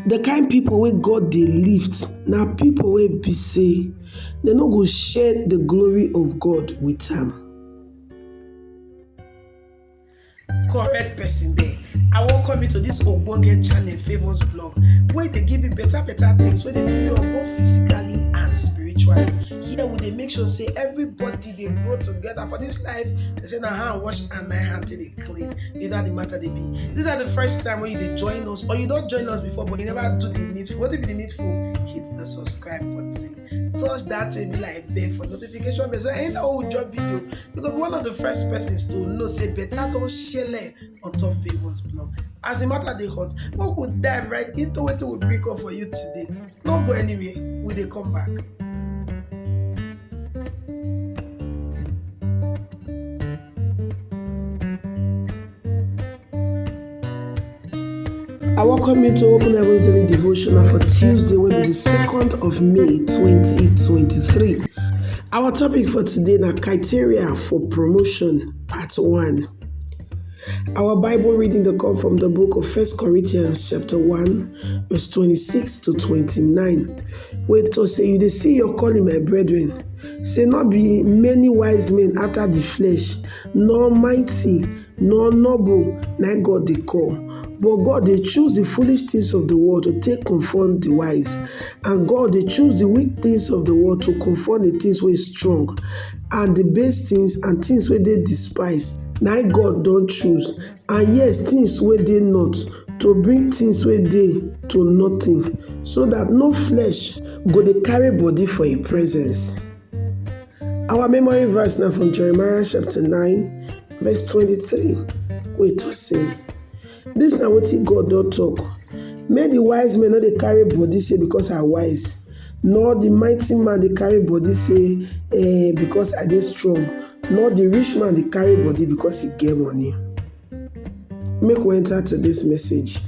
The kind people wey God dey lift na people wey be say dem no go share the glory of God with am. correct person there i welcome you to this ogbonge channel favours blog wey dey give you better better things wey dey build you up both physically and spiritually here we dey make sure say everybody dey grow together for this life they say na hand wash and na hand take dey clean you know how the matter dey be this na the first time wey you dey join us or you don join us before but you never do the needful wetin be the needful hit the subscribe button touch that baby like bell for notification bell so anytime wey we drop video you go be one of the first persons to know say better don shele on top favours blog as the matter dey hot make we dive right into wetin we bring come for you today no go anywhere we dey come back. I welcome you to Open Heaven's Daily Devotional for Tuesday, will be the 2nd of May 2023. Our topic for today na criteria for promotion, part 1. Our Bible reading dey come from the book of First Corinthians chapter 1 verse 26 to 29 wey talk say you dey see your calling my brethren say no be many wise men after the flesh nor mighty nor noble na God dey call but God dey choose the foolish things of the world to take conform the wise and God dey choose the weak things of the world to conform the things wey strong and the base things and things wey dey despise na im God don choose and yes things wey dey not to bring things wey dey to nothing so that no flesh go dey carry body for im presence. Our memory verse na from Jeremiah chapter 9 verse 23 wey talk say Dis na wetin God don talk, Make the wise men no dey carry body say because I wise, nor the mighty man dey carry body say eh, because I dey strong, nor the rich man dey carry body because he get money. Make we enter today's message.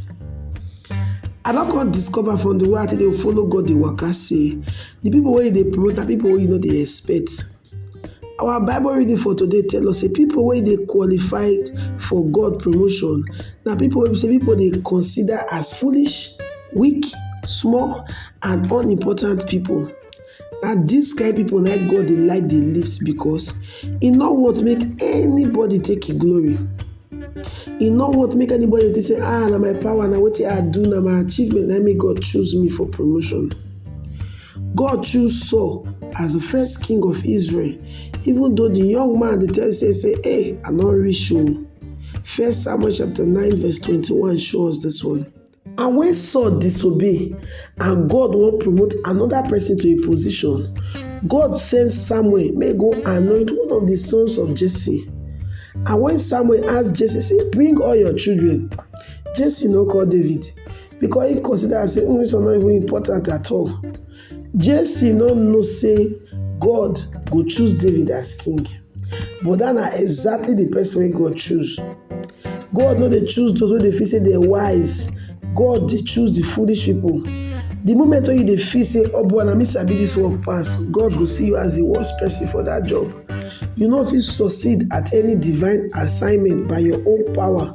I don come discover from the way I take dey follow God dey waka say the people wey you dey promote na people wey you no dey expect. Our bible reading for today tell us sey pipu wey dey qualify for God promotion na pipu wey be sey pipu dey consider as foolish, weak, small and unimportant pipu. Na dis kain pipu na im God dey like dey list because e no want make anybody take im glory, e no want make anybody think sey um na my power, na wetin I do, na my achievement na im make God choose me for promotion. God choose Saul as the first king of Israel, even though the young man dey tell say say, "Hey, I no reach o." First Samuel chapter 9 verse 21 show us this one. And when Saul disobey and God wan promote another person to a position, God send Samuel make go anoint one of the sons of Jesse. And when Samuel ask Jesse say, "Bring all your children," Jesse no call David. because he consider am say English was not even important at all. Jesse no know say God go choose David as king. But that na exactly the person wey God choose. God no dey choose those wey dey feel say dey wise. God dey choose the foolish people. The moment wey you dey feel say oboh oh, na me sabi this work pass, God go see you as the worst person for that job. You no fit succeed at any divine assignment by your own power.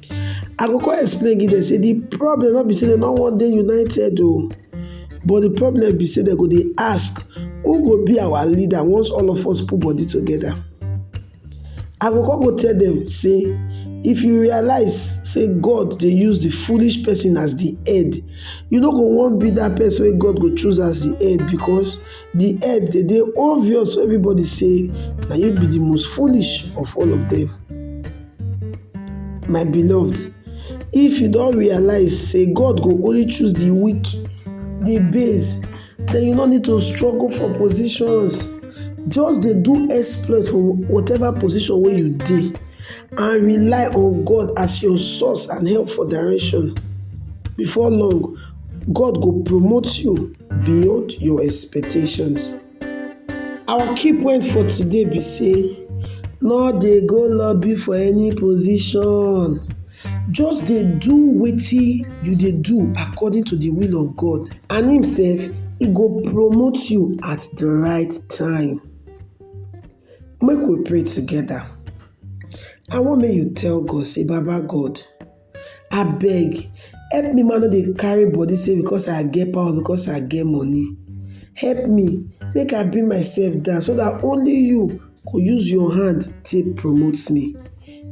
I go come explain give dem sey de problem no be sey dem no wan dey united oo but de problem be sey dem go dey ask who go be our leader once all of us put body together. I go come go tell dem sey if you realize sey God dey use de foolish person as de head you no go wan be dat person wey God go choose as de head because di head dey dey obvious to everybody sey na you be di most foolish of all of dem. My beloved if you don realize sey God go only choose di weak, di base den you no need to struggle for positions just dey do exploit for whatever position wey you dey and rely on God as your source and help for direction before long God go promote you. beyond your expectations. Our key point for today be say no dey go lobby for any position just dey do wetin you dey do according to the will of God and him sef e go promote you at the right time. Make we pray together. I want make you tell God say baba God Abeg help me ma no dey carry body say because I get power because I get money help me make I bring myself down so dat only you go use your hand take promote me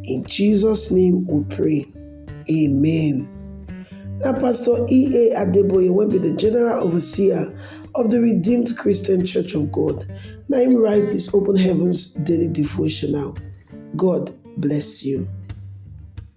in Jesus name we pray amen. Na Pastor EA Adeboye wey be the General Overseer of the Redeemed Christian Church of God na him write this Open Heavens Daily Devotional. God bless you.